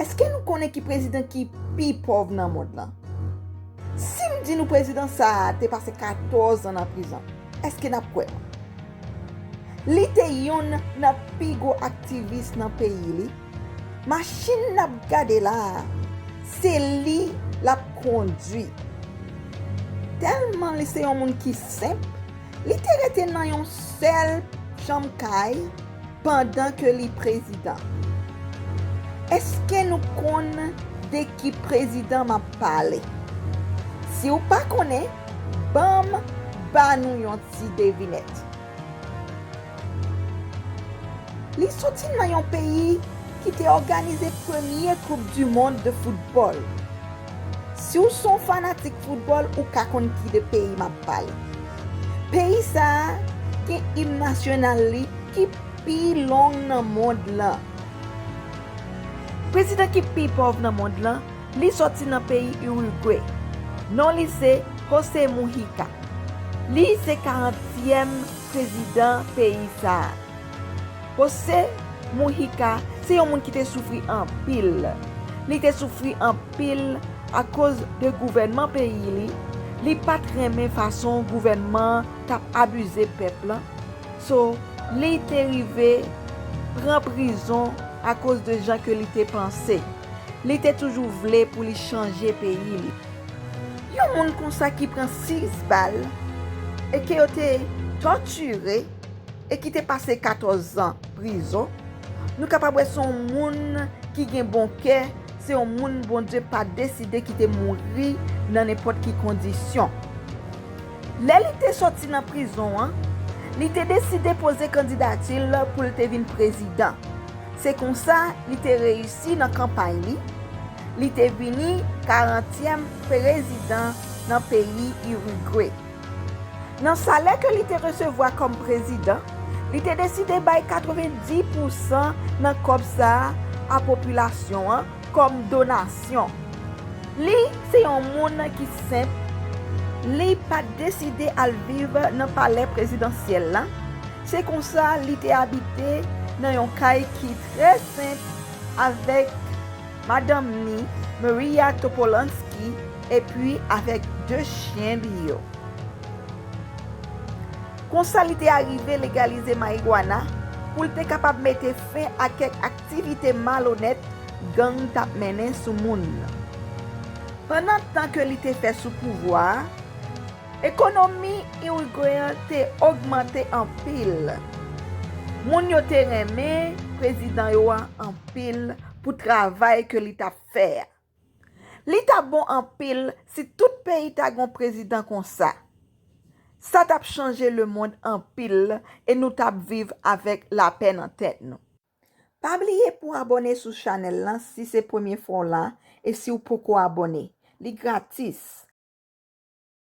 Eske nou konnen ki prezidan ki pi pòv nan mond lan? Si m di nou prezidan sa a te pase 14 an nan prizon, eske n ap kwè m? Li te yonn nan pi gwo aktivis nan peyi li. Machin n ap gade la a, se li l ap kondui. Tèlman li se yon moun ki senp, Li te rete nan yon sèl chanm kay pandan ke li prezidan. Eske nou konn de ki prezidan map pale? Si w pa konnen, banm ba nou yon ti devinèt. Li soti nan yon peyi ki te òganize premye koup du mond de foutbòl. Si w son fanatik foutbòl ou ka konn ki de peyi map pale. Peyi sa a gen im nasyonal li ki pi long nan mond lan. Prezidan ki pi pòv nan mond lan, li sòti nan peyi Urugwe. Non li se Jose Mujica. Li se 40 tièm prezidan peyi sa a. José Mujica se yon moun ki te soufri anpil. Li te soufri anpil akoz de gouvènman peyi li, li pat renmen fason gouvènman an tap abize pèp lan, so li te rive pran prizon akoz de jan ke li te panse. Li te toujou vle pou li chanje peyi li. Yon moun konsa ki pran 6 bal e ke yo te tòtire. e ki te pase 14 zan prizon, nou kapab wè se yon moun ki gen bon kè, se yon moun Bondye pa deside kite mouri nan nenpòt ki kondisyon. Lè li te sòti nan prizon an, li te deside poze kandidati l pou l te vin prezidan. Se konsa li te reyisi nan kanpay li, li te vini karantyèm prezidan nan peyi Irigwe. Nan salè ke li te resevwa kòm prezidan, li te deside bay 90 pou san nan kòb sa a a popilasyon an kòm donasyon. Li se yon moun ki senp, li pa t deside al viv nan palè prezidansyèl la, se konsa li te abite nan yon kay ki trè senp avèk. madanm ni, Maria Topolansky, epi avèk de chyen li yo. Konsa li te arive legalize marijuana pou l te kapab mete fen a kèk aktivite malonèt gang t ap mennen sou moun. Pandan tan ke li te fè sou pouvwa a, ekonomi Irigwen an te ogmante anpil. Moun yo te renmen prezidan yo a anpil. pou travay ke li tap fè a. Li ta bon anpil si tout peyi ta gon prezidan konsa. Sa tap chanje le mond anpil e nou tap viv avèk lapè nan tèt nou. Pa bliye pou abone sou chanel lan si se premye fwa w la e si w poko abone. Li gratis.